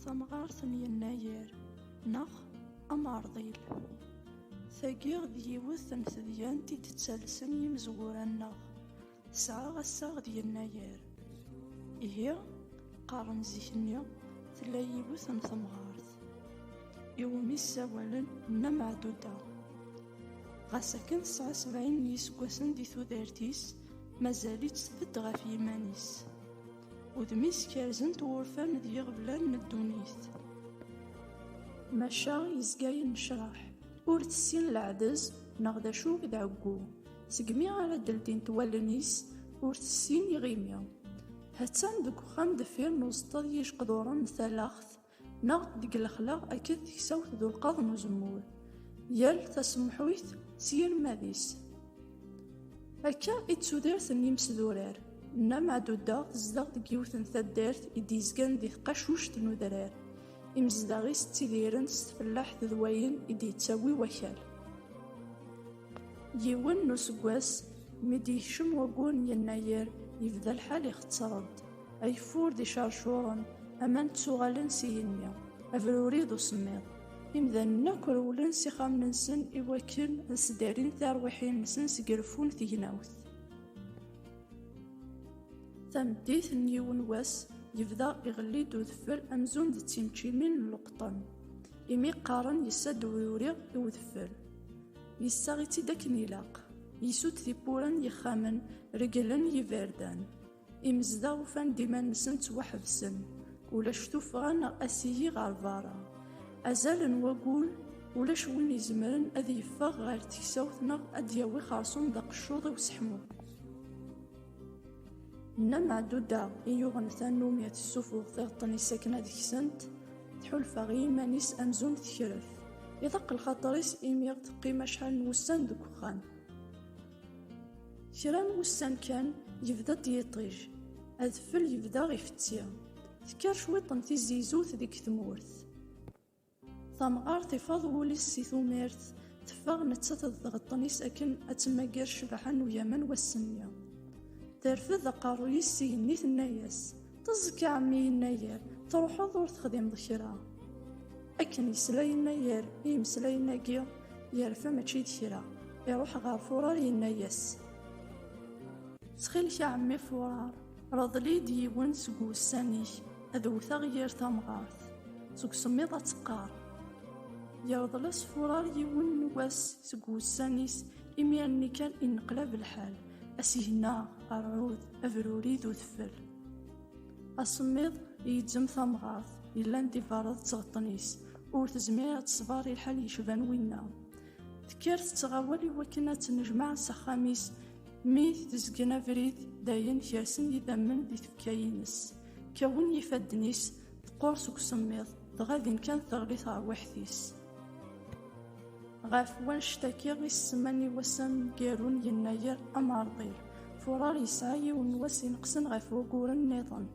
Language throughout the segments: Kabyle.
Tamɣart n yennayer neɣ ameṛḍil. Tagi d yiwet n tedyant i d-ttalsen yimezwura-nneɣ. Tesɛa assaɣ d yennayer. Ihi, qqaren zik-nni tella yiwet n temɣart iwumi ssawalen Nna Meɛduda. Ɣas akken tesɛa sebɛin n yiseggasen di tudert-is, mazal-itt tbedd ɣef yiman-is. Udem-is kerzen-t wurfan d yiɣeblan n ddunit. Maca yezga yennecraḥ, ur tessin leɛdez neɣ d acu i d ɛeggu. Segmi ara d-ldint wallen-is, ur tessin iɣimi. Hattan deg uxxam deffir n uzeṭṭa d yijeqduren n talaxt, Neɣ deg lexla akked teksawt d ulqaḍ n uzemmur, yal tasemḥuyt s yirmad-is. Akka i d tudert n yimesdurar. Nna Meɛduda tezdeɣ deg yiwet n taddart i d-yezgan di tqacuct n udrar. Imezdaɣ-is ttidiren s tfellaḥt d wayen i d-yettawi wakal. Yiwen n useggas, mi d-yekcem wayyur n yennayer, yebda lḥal ixetter-d. Ageffur d icercuren, aman ttuɣalen s igenni, abruri d usemmiḍ. Imdanen akk rewlen s ixxamen-nsen i wakken ad sdarin tarwiḥin-nsen seg reffu n tegnawt. Tameddit n yiwen wass, yebda iɣelli-d udfel amzun d timčimin n leqṭen, imi qqaren yessa-d ubruri i udfel. Yessaɣ-itt-id akken ilaq, yessud tiwwura n yixxamen, regglen yiberdan. Imezdaɣ ufan-d iman-nsen ttwaḥebsen, ulac tuffɣa neɣ asiyi ɣer berra. Azal n wagul, ulac win izemren ad yeffeɣ ɣer teksawt neɣ ad d-yawi xersum d aqeccuḍ i useḥmu. Nna Meɛduda i yuɣen tannumi ad tessufuɣ tiɣeṭṭen-is akken ad ksent, tḥulfa i yiman-is amzun tekref. Iḍaq lxaṭer-is imi ɣ teqqim acḥal n wussan deg uxxam. Kra n wussan kan, yebda-d yiṭij. Adfel yebda ifetti. Tekker cwiṭ n tizizut deg tmurt. Tamɣart ifaḍ wul-is si tumirt, teffeɣ nettat d tɣeṭṭen-is akken ad temmager ccbaḥa n ugaman wass-nni. Terfed aqerruy-is s igenni tenna-yas, Teẓẓek ɛemmi yennayer, truḥeḍ ur texdimeḍ kra. Akken yesla yennayer i imeslayen-agi, yerfa mačči d kra, iruḥ ɣer furar yenna-yas. Ttxil-k a ɛemmi furar, reḍl-id yiwen seg wussan-ik ad wteɣ yir tamɣart, seg usemmiḍ ad teqqar. Yerḍel-as furar yiwen n wass seg wussan-is imi anni kan inneqlab lḥal. Asigna, rrud, abruri d udfel. Asemmiḍ yeǧǧem tamɣart, yellan d iberreḍ d tɣeṭṭen-is, ur tezmir ad tesber i lḥal yecban winna. Tekker tettɣawal i wakken ad tennejmaɛ s axxam-is, mi tezgen abrid, dayen kersen yidammen di tfekka-ines. Kkawen yifadden-is, teqqur seg usemmiḍ, dɣa din kan terbi terwiḥt-is. Ɣef wanect-agi i s-semman i wass ameggaru n Yennayer Amerḍil. Furar yesɛa yiwen n wass ineqsen ɣef wuguren nniḍen.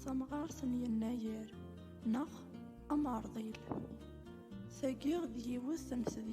Tamɣart n Yennayer neɣ Amerḍil. Tagi d yiwet n tedyanin.